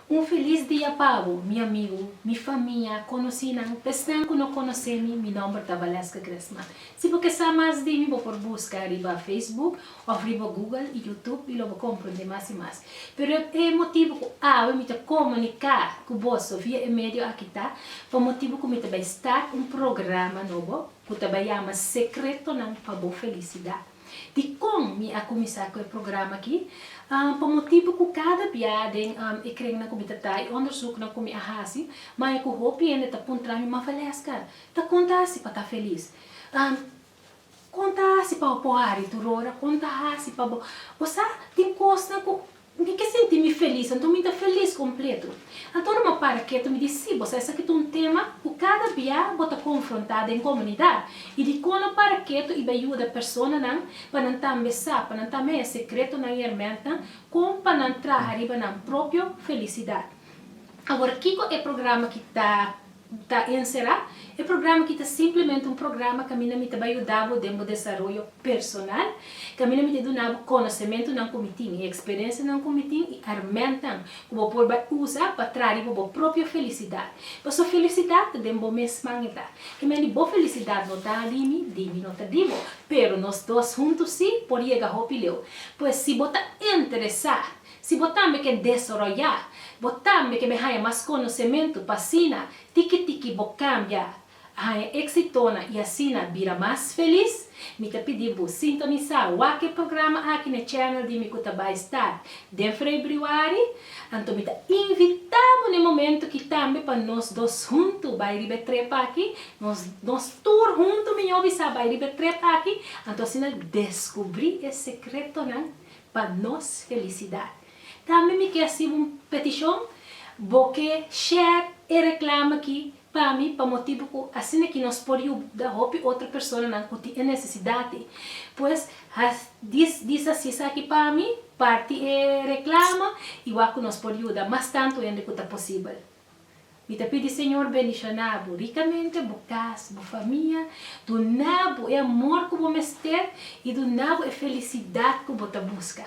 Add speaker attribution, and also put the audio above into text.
Speaker 1: Un filis dia pa bo, mi amigu, mi famia, konosinan, pa esnan ku no konosé mi, mi nòmber ta Valeska Gresman. Si bo ke sa mas di mi bo por buska riba Facebook òf riba Google i YouTube i lo bo komprondé mas i mas. Pero e motibu ku awe mi ta komuniká ku boso via e medio aki ta pa motibu ku mi ta bai start un programa nobo ku ta bai yama Sekretonan pa bo Felisidat. Dikon mi a kuminsá ku e programa aki? Pa motibu ku kada bia den e krennan ku mi ta ta i ondersuknan ku mi a hasi, maya ku hopi hende ta puntra mi, Mafalesca, ta kon ta hasi pa ta felis? Kon ta hasi pa bo por hari tur ora? Kon ta hasi pa bo. Bo sa, tin kosnan ku Mi ke sinti mi felis, anto mi ta felis kompletu. Anto ora mi para ketu mi di, Sí, boso, esaki ta un tema ku kada bia bo ta konfrontá den komunidat, i dikon lo para ketu i bai yuda personanan pa nan tambe sa, pa nan tambe haña sekretonan i hermèntnan kon pa nan traha riba nan propio felisidat. Awor, kiko e programa ki ta Ta encerá, e programa aki ta simplemente un programa caminda mi ta bai yudabo den bo desaroyo personal, caminda mi ta dunabo conocementonan cu mi tin y experiencianan cu mi tin y hermentan cu bo por bai uza pa traribo bo propio felicidad. Pasobra felicidad ta den bo mesman e ta. Kemey di bo felicidad no ta di mi, di mi no ta di bo, pero nos dos hunto si por yega hopi leu. Pues si bo ta interesá Si bo tambe ke desoroyá, bo tambe ke bin haña mas konosementu pa asina tiki tiki bo kambia, a haña éksitonan i asina bira mas felis? Mi ta pidi bo sintonisá wak e programa aki na channel di mi ku ta bai star den frébriuari. Anto mi ta invitá bo na e momentu ki tambe pa nos dos huntu bai riba e trep aki, nos nos tur huntu miñó bisa bai riba e trep aki, anto asina deskubrí e sekretonan pa nos felicidad. Tambe mi ke haci un peticion, bo ke share e reclama aki pa mi pa motibu cu asina ki nos por yuda hopi otro personanan cu tin e necesidad ey. Pues dis haci esaki pa mi, parti e reclama y wak cu nos por yuda mas tanto hende cu ta posibel. Mi ta pidi Señor bendishonabu ricamente, bo cas, bo famia, dunabu e amor cu bo mester y dunabu e felicidad cu bo ta busca.